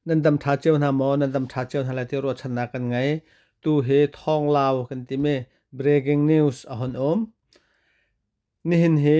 nan dam ṭha cio hna maw nan dam ṭha cio hna lai ti ruahchannak kan ngei tu hi thawnglau kan timi breaking news a hon um nihin hi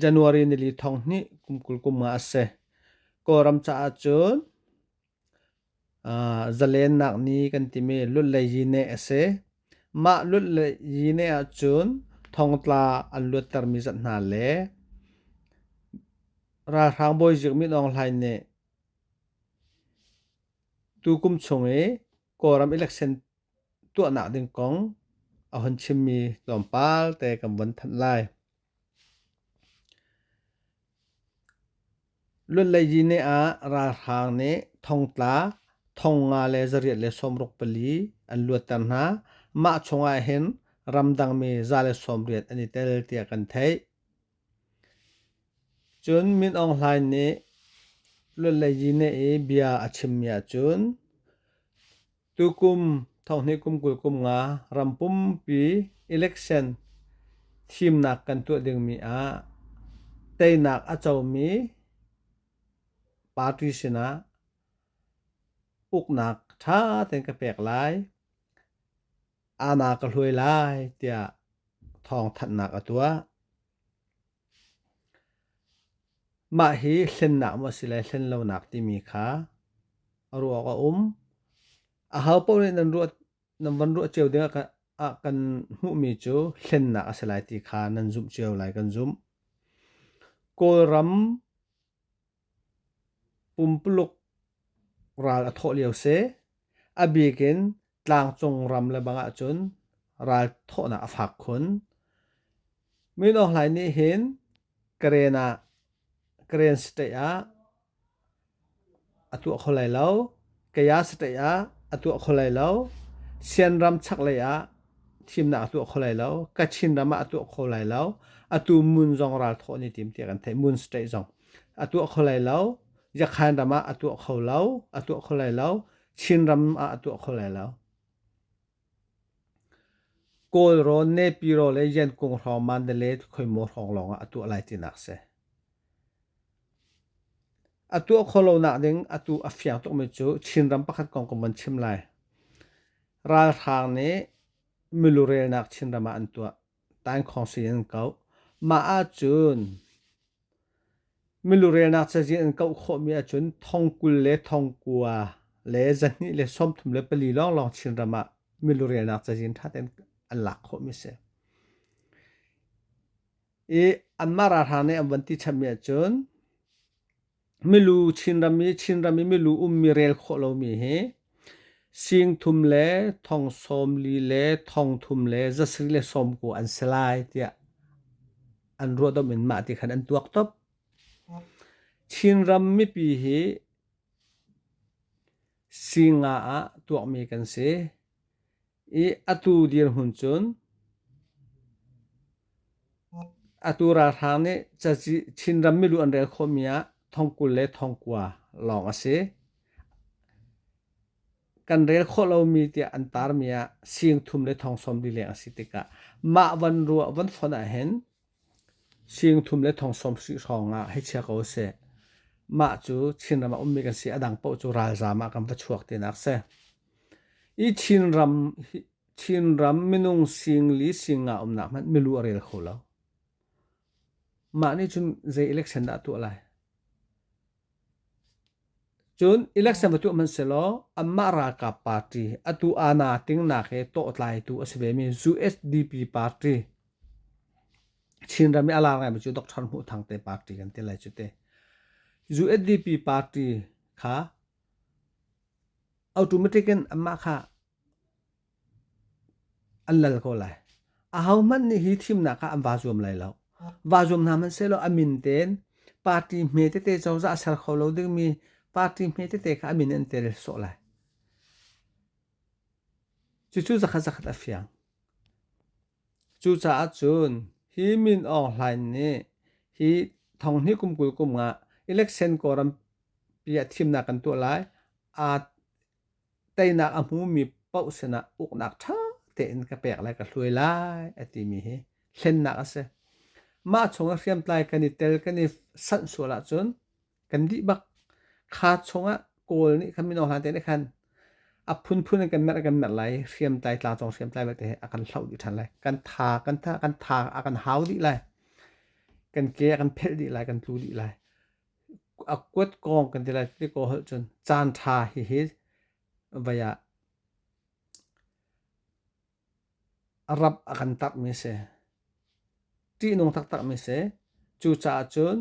january nili thong hnih kum kul kum nga a si kawlram caah cun Zalennak ni kan timi lut le yine a si. Mah lut le yine ahcun thongtla an luattermi zat hna le ralhrang bawizik min Aung Hlain nih tukum chung i Kawlram election tuahnak ding kong a hun chimmi tlawmpal te kan vun thanh lai. Luanleidine ah ralhrang nih thongtla, thongnga le zariat le sawmruk pali an luatter hna. Mah chungah hin ramdangmi za le sawmriat an i tel tiah kan theih. Cun Min Aung Hlain nih luanleidine i bia a chimmi ahcun Tukum thonghnih kum kul kum nga ram pumpi election thimnak kan tuah dingmi ah teinak a comi party sinah uknak ṭha tein ka pek lai. Ama ka hluai lai tiah thawngthanhnak a tuah. Mah hi hlennak maw a si le hlen lonak timi kha a ruak a um. A ho paoh nih nan ruah nan van ruah cio ding ah ah kan hmuhmi cu hlennak a si lai ti kha nan zumh cio lai kan zumh. Kawlram Pumpuluk ral a thawh lio si. A bik in tlangcung ram le bang ahcun ral thawhnak a fak khun. Min Aung Hlaing nih hin Karen ah Karen state ah a tuah kho lai lo. Kaya satei ah a tuah kho lai lo. Sianram chaklei ah thimnak a tuah kho lai lo. Kachin ram ah a tuah kho lai lo. Atu mun zong ral thawh ni tim tiah kan theih. Mun state zong. A tuah kho lai lo. Yakhan ram ah a tuah kho lo. A tuah kho lai lo. Chin ram ah a tuah kho lai lo. Kawlrawn nepiro le Yankung hrawng Mandalay khuaihmaw hrawng lawng ah a tuah lai tinak a si. A tuah kho lonak ding atu a fiang tukmi cu Chinram pakhat kong kan van chim lai. Ralhrang nih milurelnak Chinram ah an tuah. Taingkhawng sui in an kauh. Mah ahcun Milurelnak cazin an kauh khawhmi ahcun thong kul le thong kua le zahnih le sawmthum le pali lawnglawng Chinram ah milurelnak cazin ṭha tein an lak khawhmi a si. I anmah ralhrang nih an van ti chammi ahcun milu Chinram i Chinram i milu ummi rel khawh lomi hi singthum le thong sawm li le thong thum le zasarih le sawm kua an si lai tiah an ruahdomh in mah ti khan an tuak top. Chinram mipi hi singa ah tuakmi kan si. I atu dirhmun cun atu ralhrang nih caci Chinram milu an rel khawhmi ah thongkul le thongkua lawng a si. kan rel khawh lomi tiah an tarmi ah sing thum le thong sawm lileng a si tikah mah van ruah van fonh ahhin sing thum le thong sawm hrih hrawng ah hei chia ko seh mah cu Chinram ah ummi kan si a dang paoh cu ralzaam ah kan va chuak tinak si i Chinram Chinram minung sing li sing nga umnak hmanh milu a rel kho lo mah nih cun zei election dah a tuah lai Cun election va tuah hmanh selaw anmah ralkap party atu ANA tingnak hi tawhtlaitu a si vemi USDP party Chinram i a lar ngaimi cu Dr. Hmuh Thang te party kan ti lai cu te. USDP party kha automatic in anmah kha an lal ko lai. Ahohmanh nih hi thimnak kha an va zuam lai lo. Va zuam hna hmanh sehlaw a min tein party hme tete cozah ser kho lo dingmi party hme tete kha a min in an tel sawh lai. Cucu zakhat zakhat a fiang. Cucaah cun hi Min Aung Hlain nih hi thong hnih kum kul kum nga election kawram pi ah thimnak kan tuah lai. Aa teinak a hmumi paoh sinah uknak ṭha tein ka pek lai ka hluai lai a timi hi hlennak a si. Mah chungah hriamtlai kan i tel kan i sanh sual ahcun kan dih bak. Kha chungah Kawl nih kan mino hna te nih khan a phunphun in kan merh kan merh lai i hriamtlai tlangcung hriamtlai vialte he a kan hloh dih ṭhan lai. Kan tha kan tha kan tha a kan hau dih lai. Kan ke a kan phelh dih lai kan tlu dih lai. a kuat kong kan ti lai ti ko holh cun caan ṭha hihi vai ah rap a kan tarhmi a si. Ṭihnung taktakmi a si. Cucaah cun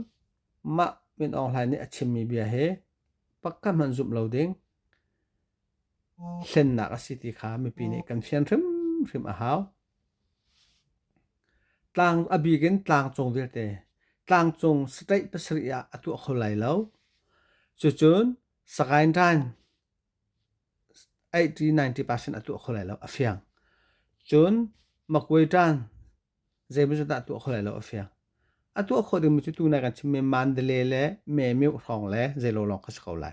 mah Min Aung Hlaing nih a chimmi bia hi pakhat hmanh zumh lo ding hlennak a si ti kha mipi nih kan fian hrimhrim a hau. Tlang a bik in tlangcung vialte tlangcung state pasarih ah a tuah kho lai lo. Cucun Sagaing Ran 80-90% a tuah kho lai lo a fiang. Cun Magway Ran zeimai cu dah tuah kho lai lo a fiang. A tuah kho dingmi cu tunai kan chim mi Mandalay le Memuk hrawng le zeilawng lawng kha si ko lai.